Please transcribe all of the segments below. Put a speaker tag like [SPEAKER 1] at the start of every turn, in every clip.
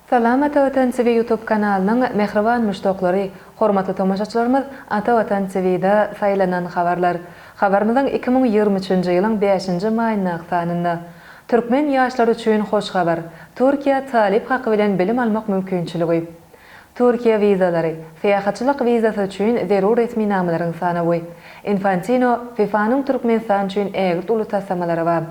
[SPEAKER 1] Salam Ata Watan TV YouTube kanalynyň mähriban muşdaklary, hormatly tomaşaçylarymyz Ata Watan TVda saýlanan habarlar. Habarymyzyň iki müň ýigrimi üçünji ýylyň bäşinji maýyndaky sanynda. Türkmen ýaşlary üçin hoş habar, Türkiýe talyp haky bilen bilim almak mümkinçiligi. Türkiýe wizalary, syýahatçylyk wizasy üçin zerur resminamalaryň sanawy. Infantino, FIFA-nyň Türkmenistan üçin ägirt uly taslamalary bar.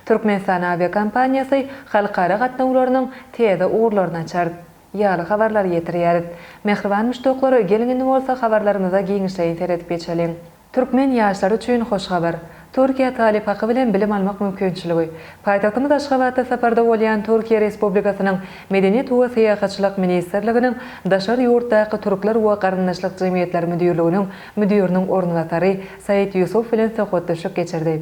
[SPEAKER 1] Türkmenistan awiakompaniýasy halkara gatnawlarynyň täze ugurlaryny açar. Ýaly habarlary ýetirýäris. Mähriban muşdaklar, geliň indi bolsa habarlarymyza giňişleýin seredip geçeliň. Türkmen ýaşlary üçin hoş habar, Türkiýe talyp haky bilen bilim almak mümkinçiligi. Paýtagtymyz Aşgabatda saparda bolýan Türkiýe Respublikasynyň Medeniýet we syýahatçylyk ministrliginiň Daşary ýurtdaky türkler we garyndaşlyk jemgyýetleri müdirliginiň müdiriniň orunbasary Said Ýusup bilen söhbetdeşlik geçirdi.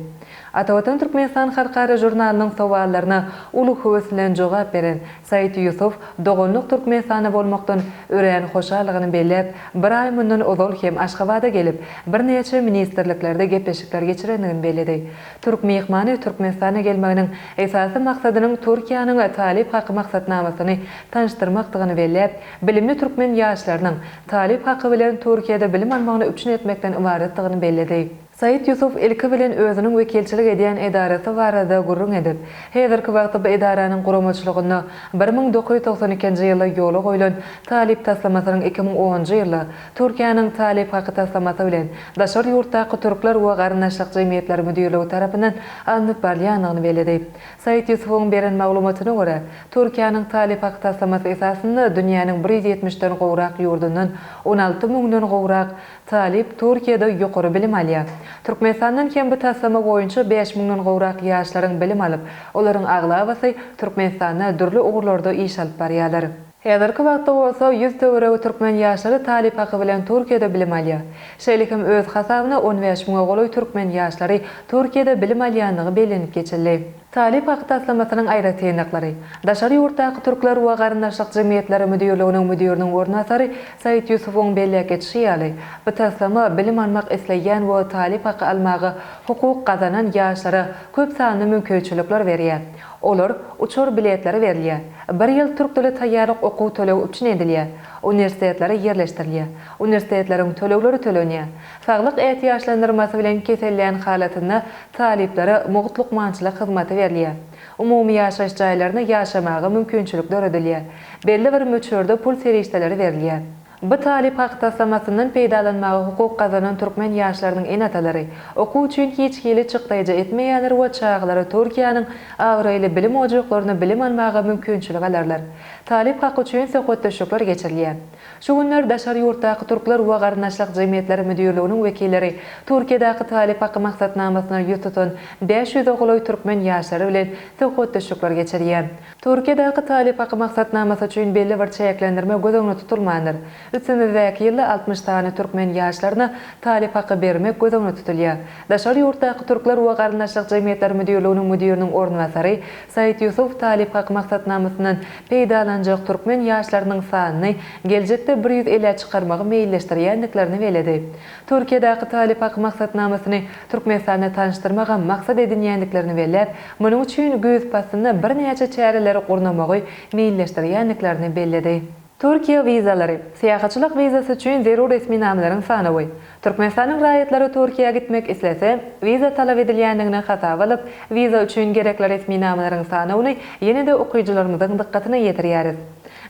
[SPEAKER 1] Atavatan Türkmenistan halkara žurnalynyň sowallaryna uly höwes bilen jogap beren Said Ýusup doganlyk Türkmenistanda bolmakdan örän hoşaldygyny belläp, bir aý mundan ozal hem Aşgabada gelip, birnäçe ministrliklerde gepleşikler geçirendigini belledi. Türk myhmany Türkmenistana gelmeginiň esasy maksadynyň Türkiýäniň Talyp haky maksatnamasyny tanyşdyrmakdygyny belläp, bilimli türkmen ýaşlarynyň Talyp haky bilen Türkiýede bilim almagyny üpjün etmekden ybaratdygyny belledi. Said Ýusuf ilki bilen özüniň wekilçilik edýän edarasy barada gürrüň edip, häzirki wagtda bu edaranyň guramaçylygynda bir müň dokuz ýüz togsan ikinji ýylda ýola goýlan Talyp taslamasynyň iki müň onunjy ýylda Türkiýäniň Talyp haky taslamasy bilen daşary ýurtdaky türkler we garyndaşlyk jemgyýetleri müdirligi tarapyndan alnyp barylýandygyny belledi. Said Ýusufuň beren maglumatyna görä, Türkiýäniň Talyp haky taslamasy esasynda dünýäniň bir ýüz ýetmiş den gowrak ýurdundan on alty müňden gowrak Talyp Türkiýede ýokary bilim alýar. Türkmenistandan hem bu taslama boýunça bäş müňden gowrak ýaşlaryň bilim alyp, olaryň aglabasy Türkmenistanda dürli ugurlarda iş alyp barýarlar. Häzirki wagtda bolsa ýüz töweregi türkmen ýaşlary talyp haky bilen Türkiýede bilim alýar. Şeýle hem öz hasabyna on bäş müňe golaý türkmen ýaşlary Türkiýede bilim alýandygy bellenip geçildi. Talyp haky taslamasynyň aýratynlyklary. Daşary ýurtdaky türkler we garyndaşlyk jemgyýetleri müdirliginiň müdiriniň orunbasary Said Ýusufowyň belläp geçişi ýaly, bu taslama bilim almak isleýän we talyp haky almaga hukuk gazanan ýaşlara köp sanly mümkinçilikler berýär. Olar, uçar biletleri berilýär. Bir ýyl türk dili taýýarlyk okuw tölegi üpjün edilýär. Uniwersitetlere ýerleşdirilýär. Uniwersitetleriň tölegleri tölenýär. Saglyk ätiýaçlandyrmasy bilen kesellän halatynda talyplara mugt lukmançylyk hyzmaty berilýär. Umumy ýaşaýyş jaýlaryna ýaşamaga mümkinçilik döredilýär. Belli bir möçberde pul serişdeleri berilýär. Bu talyp hak taslamasyndan peýdalanmaga hukuk gazanan türkmen ýaşlarynyň ene-atalary, okuw üçin hiç hili çykdaýja etmeýänler we çagalary Türkiýäniň abraýly bilim ojaklarynda bilim almaga mümkinçilik alarlar. Talyp haky üçin söhbetdeşlikler geçirilýär. Şu günler daşary ýurtdaky türkler we garyndaşlyk jemgyýetleri müdirliginiň wekilleri Türkiýedäki talyp haky maksatnamasyna ýüz tutan bäş ýüze golaý türkmen ýaşary bilen söhbetdeşlikler geçirýär. Türkiýedäki talyp haky maksatnamasy üçin belli bir çäklendirme göz öňüne tutulmandyr. Üstümizdäki ýylda altmyş sany türkmen ýaşlaryna talyp haky bermek göz öňüne tutulýar. Daşary ýurtdaky türkler we garyndaşlyk jemgyýetleri müdirliginiň müdiriniň orunbasary Said Ýusup talyp haky maksatnamasyndan peýdalanjak türkmen ýaşlarynyň sanyny geljekde bir ýüz elä çykarmagy meýilleşdirýändiklerini belledi. Türkiýedäki Talyp Ak maksatnamasyny Türkmenistanda tanyşdyrmagam maksat edinýändiklerini belläp, munuň üçin güýz paslynda birnäçe çäreleri gurnamagy meýilleşdirýändiklerini belledi. Türkiýe wizalary, syýahatçylyk wizasy üçin zerur resminamalaryň sanawy, Türkmenistanyň raýatlary Türkiýä gitmek islese, wiza talap edilýändigini hasaba alyp, wiza üçin gerekli resminamalaryň sanawyny ýene-de okyjylarymyzyň dykgatyna ýetirýäris.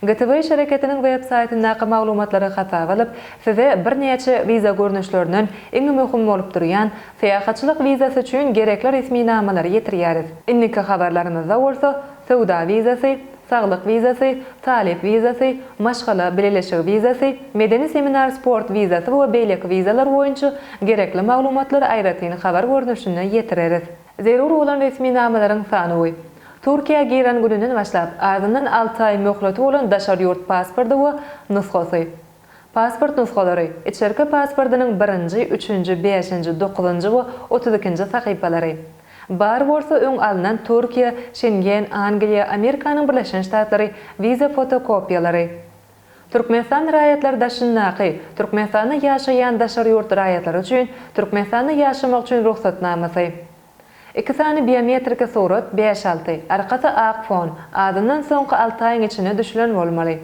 [SPEAKER 1] GTW şereketiniň websaýtyndaky maglumatlary hasaba alyp, size birnäçe wiza görnüşlerinden iň möhüm bolup durýan Syýahatçylyk wizasy üçin gerekli resminamalary ýetirýäris. Indiki habarlarymyzda bolsa söwda wizasy, saglyk wizasy, talyp wizasy, maşgala bileleşigi wizasy, medeni-seminar-sport wizasy we beýleki wizalar boýunça gerekli maglumatlary aýratyn habar görnüşinde ýetireris. Zerur bolan resminamalaryň sanawy. Türkiýä giren gününden başlap, azyndan alty aý möhleti bolan daşary ýurt pasporty we nusgasy. Pasport nusgalary, içerki pasportynyň birinji, üçünji, bäşinji, dokuzynjy we otuz ikinji sahypalary. Bar bolsa öň alnan Türkiýe, Şengen, Angliýa, Amerikanyň Birleşen Ştatlary, wiza fotokopiýalary. Türkmenistan raýatlary daşyndaky, Türkmenistanda ýaşaýan daşary ýurt raýatlary üçin, Türkmenistanda ýaşamak üçin rugsatnamasy. Iki sany biometriki surat, bäş-alty, arkasy ak fon, azyndan soňky alty aýyň içinde düşülen bolmaly.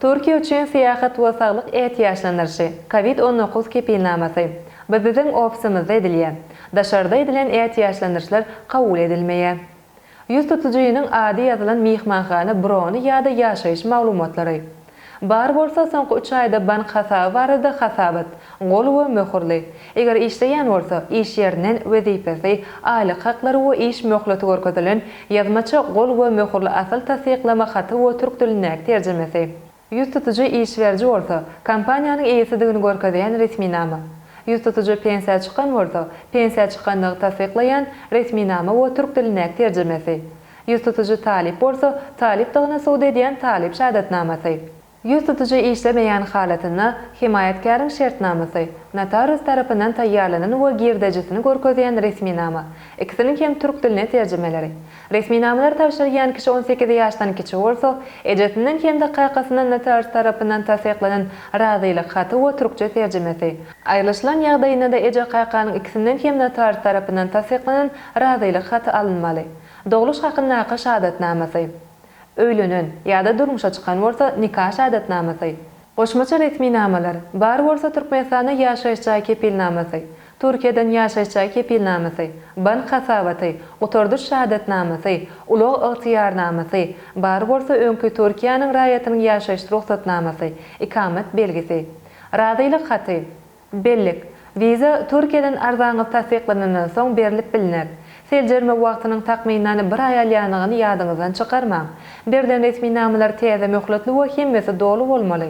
[SPEAKER 1] Türkiýe üçin syýahat we saglyk ätiýaçlandyryşy, Covid on dokuz kepilnamasy, BBB-iň ofisimizde edilýär. Daşarda edilen ätiýaçlandyryşlar kabul edilmeýär. Ýüz tutujynyň ady ýazylan myhmanhana brony ýa-da ýaşaýyş maglumatlary. Bar bolsa, soňky üç aýda bank hasaby barada hasabat, gol we möhürli, Eger işleýän bolsa, iş ýerinden wezipesi, aýlyk haklary we iş möhleti görkezilen ýazmaça gol we möhürli asyl tassyklama haty we türk dilindäki terjimesi. Ýüz tutujy iş beriji bolsa, kompaniýanyň eýesidigini görkezýän resminama. Ýüz tutujy pensiýa çykan bolsa, pensiýa çykandygy tassyklaýan resminama we türk dilindäki terjimesi. Ýüz tutujy talyp bolsa, talypdygyny subut edýän talyp şahadatnamasy. Ýüz tutyjy işlemeýän halatynda, hemaýatkäriň şertnamasy, notarius tarapyndan taýýarlanan we girdejisini görkezýän resminama, ikisiniň hem türk diline terjimeleri. Resminamalary tabşyrýan kişi on sekiz ýaşdan kiçi bolsa, ejesinden hem-de kakasyndan notarius tarapyndan tassyklanan razylyk haty we türkçe terjimesi, aýrylyşylan ýagdaýynda-da eje-kakanyň ikisinden hem notarius tarapyndan tassyklanan razylyk haty alynmaly. Dogluş hakyndaky şahadatnamasy. Öýlenen, ýa-da durmuşa çykan bolsa, nika şahadatnamasy. Goşmaça resminamalar, bar bolsa Türkmenistanda ýaşaýyş jaý kepilnamasy, Türkiýeden ýaşaýyş jaý kepilnamasy, bank hasabaty, gutardyş şahadatnamasy, ulag ygtyýarnamasy, bar bolsa öňki Türkiýäniň raýatynyň ýaşaýyş rugsatnamasy, ikamet belgisi. Razylyk haty. Bellik, Wiza Türkiýeden arzaňyz tassyklanandan soň berlip bilner. Seljerme wagtynyň takmynan bir aý alýanyny ýadyňyzdan çykarmaň. Berlen resminamalar täze möhletli we hemmesi doly bolmaly.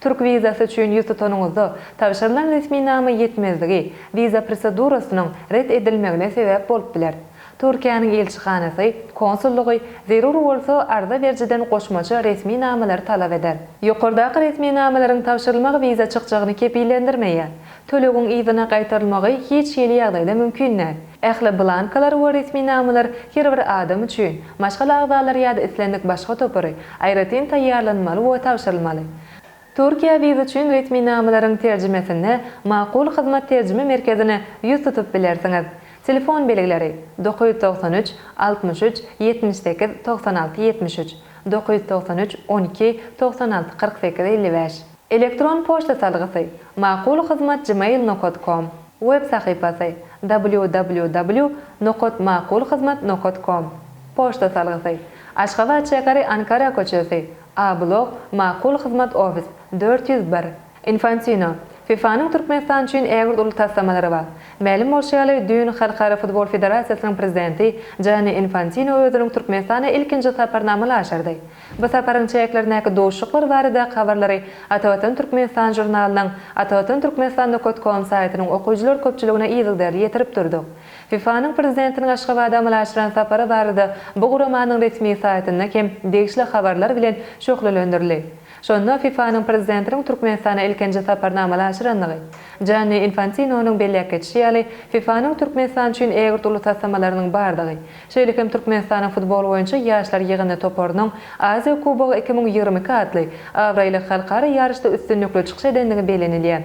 [SPEAKER 1] Türk wizasy üçin ýüz tutanyňyzda, tabşyrylan resminama ýetmezligi, wiza prosedurasynyň ret edilmegine sebäp bolup biler. Türkiýäniň ilçihanasy, konsullygy, zerur bolsa, arza berijiden goşmaça resmi namalary talap eder. Ýokardaky resmi namalaryň tabşyrylmagy wiza çykjagyny kepillendirmeýär. Tölegiň yzyna gaýtarylmagy hiç hili ýagdaýda mümkin däl. Ähli blankalar we resmi namalar her bir adam üçin, maşgala agzalary ýa-da islendik başga topary, aýratyn taýýarlanmaly we tabşyrylmaly. Türkiýe wiza üçin resminamalaryň terjimesinde Makul hyzmat terjime merkezine ýüz tutup bilersiňiz. Telefon belgileri, Dokuz ýüz togsan üç, altmyş üç, ýetmiş sekiz, togsan alty, ýetmiş üç, Dokuz ýüz togsan üç, on iki, togsan alty, kyrk sekiz, elli bäş. Elektron poçta salgysy, Makul hyzmat gmail nokat kom. Web sahypasy, www. Nokat makul hyzmat nokat kom. Poçta salgysy, Aşgabat şäheri Ankara köçesi, A-blok, Makul hyzmat ofis, dört ýüz bir. Infantino, FIFA-nyň Türkmenistan üçin ägirt uly taslamalary bar. Mälim bolşy ýaly, düýn Halkara futbol federasiýasynyň prezidenti Janni Infantino özüniň Türkmenistana ilkinji saparyny amala aşyrdy. Bu saparyň çäklerindäki duşuşyklar baradaky habarlary Atavatan Türkmenistan žurnalynyň Atavatan Türkmenistan Nokot Kom saýtynyň okyjylar köpçüligine yzygiderli ýetirip durduk. FIFA-nyň prezidentiniň Aşgabada amala aşyran sapary barada bu guramanyň resmi saýtynda hem degişli habarlar bilen şöhlelendirildi. Şonda FIFA-nyň prezidentiniň Türkmenistana ilkinji saparyny amala aşyrandygy, Janni Infantinonyň belläp geçişi ýaly, FIFA-nyň Türkmenistan üçin ägirt uly taslamalarynyň bardygy, şeýle hem Türkmenistanyň futbol boýunça ýaşlar ýygyndy toparynyň Aziýa Kubogy iki müň ýigrimi iki atly abraýly halkara ýaryşda üstünlikli çykyş edendigi bellenilýär.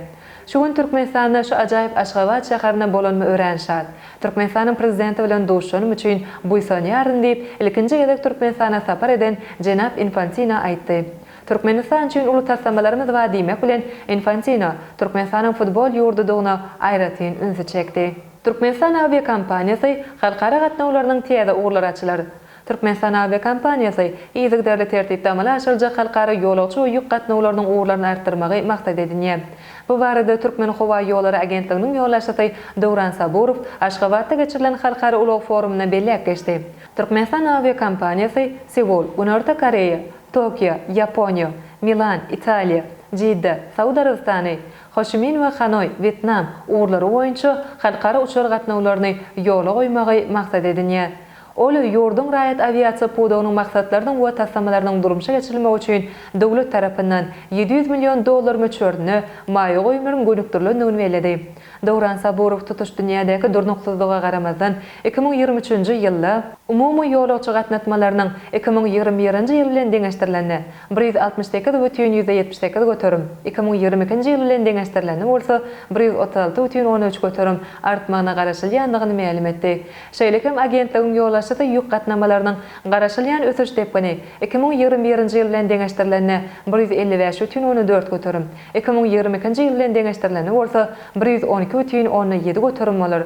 [SPEAKER 1] Şu gün Türkmenistanda şu ajaýyp Aşgabat şäherinde bolanyma örän şat. Türkmenistanyň Prezidenti bilen duşanym üçin buýsanýardym diýip, ilkinji gezek Türkmenistana sapar eden jenap Infantino aýtdy. Türkmenistan üçin uly taslamalarymyz bar diýmek bilen, Infantino Türkmenistanyň futbol ýurdudygyna aýratyn ünsi çekdi. Türkmenistan awiakompaniýasy halkara gatnawlarynyň täze ugurlary açylar. Türkmenistan awiakompaniýasy yzygiderli tertipde amala aşyryljak halkara ýolagçy we ýük gatnawlarynyň ugurlaryny artdyrmagy maksat edinýär. Bu barada Türkmenhowaýollary agentliginiň ýolbaşçysy Döwran Saburow Aşgabatda geçirilen halkara ulag forumynda belläp geçdi. Türkmenistan awiakompaniýasy Seul, Günorta Koreýa, Tokio, Ýaponiýa, Milan, Italiýa, Jidda, Saud Arabystany, Hoçimin we Hanoý, Wýetnam, ugurlary boýunça halkara uçar gatnawlaryny ýola goýmagy maksat edinýär. Ol ýurduň raýat awiasiýa pudagynyň maksatlarynyň we taslamalarynyň durmuşa geçirilmegi üçin döwlet tarapyndan ýedi ýüz million dollar möçberinde maýa goýumlaryň gönükdirilendigini belledi. Döwran Saburow tutuş dünýädäki durnuksyzlyga garamazdan, iki müň ýigrimi üçünji ýylda, umumy ýolagçy gatnatmalarynyň iki müň ýigrimi birinji ýyl bilen deňeşdirilende, bir ýüz altmyş sekiz bütin ýüzde ýetmiş sekiz göterim, iki müň ýigrimi ikinji ýyl bilen deňeşdirilende bolsa, bir ýüz otuz alty bütin onda üç göterim artmagyna garaşylýandygyny mälim etdi. Şeýle hem agentligiň ýolbaşçysy ýük gatnamalarynyň garaşylýan ösüş depgini iki müň ýigrimi birinji ýyl bilen deňeşdirilende bir ýüz elli bäş bütin ony dört göterim, iki müň ýigrimi ikinji ýyl bilen deňeşdirilende bolsa bir ýüz on iki bütin ony ýedi göterim bolar.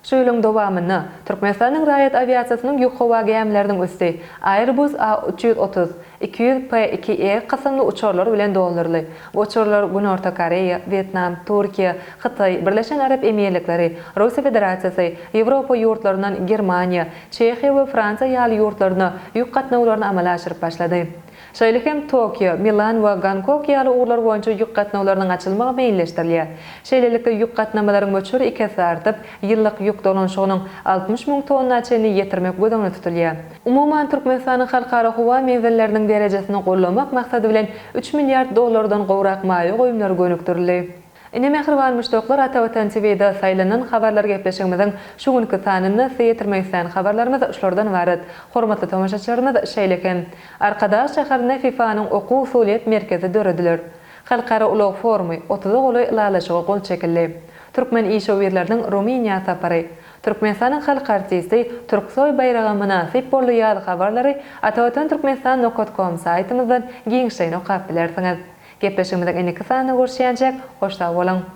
[SPEAKER 1] Şu ýylyň dowamynda Türkmenistanyň raýat awiasiýasynyň ýük howa gämileriniň üsti Airbus A üç ýüz otuz, iki ýüz P iki E kysymly uçarlar bilen dolduryldy. Bu uçarlar Günorta Koreýa, Wýetnam, Türkiýe, Hytaý, Birleşen Arap Emirlikleri, Russiýa Federasiýasy, Ýewropa ýurtlaryndan Germaniýa, Çehiýa we Fransiýa ýaly ýurtlaryna ýük gatnawlaryny amala aşyryp başlady. Şeýle hem Tokio, Milan we Gonkok ýaly ugurlar boýunça ýük gatnawlarynyň açylmagy meýilleşdirilýär. Şeýlelikde, ýük gatnamalaryň möçberi iki esse artyp, ýyllyk ýük dolanyşygynyň altmyş müň tonna çenli ýetirmek göz öňünde tutulýar. Umuman, Türkmenistanyň halkara howa menzilleriniň derejesini gollamak maksady bilen üç milliard dollardan gowrak maýa goýumlary gönükdirildi. Ine mähriban muşdaklar Ata Watan TVda saýlanan habarlar gepleşigimiziň şu günki sanynda size ýetirmek isleýän habarlarymyz şulardan ybarat. Hormatly tomaşaçylarymyz şeýle hem Arkadag şäherinde FIFA-nyň okuw-usulyýet merkezi dörediler. Halkara ulag forumy, otuza golaý ylalaşyga gol çekildi. Türkmen işewürleriniň Rumyniýa sapary. Türkmenistanyň halk artisti Turksoý baýraga mynasyp boldy ýaly habarlary Atavatan Türkmenistan nokat kom saýtymyzdan giňişleýin okap bilersiňiz. Gepleşigimiziň indiki sanynda görüşýänçäk, hoş sag boluň!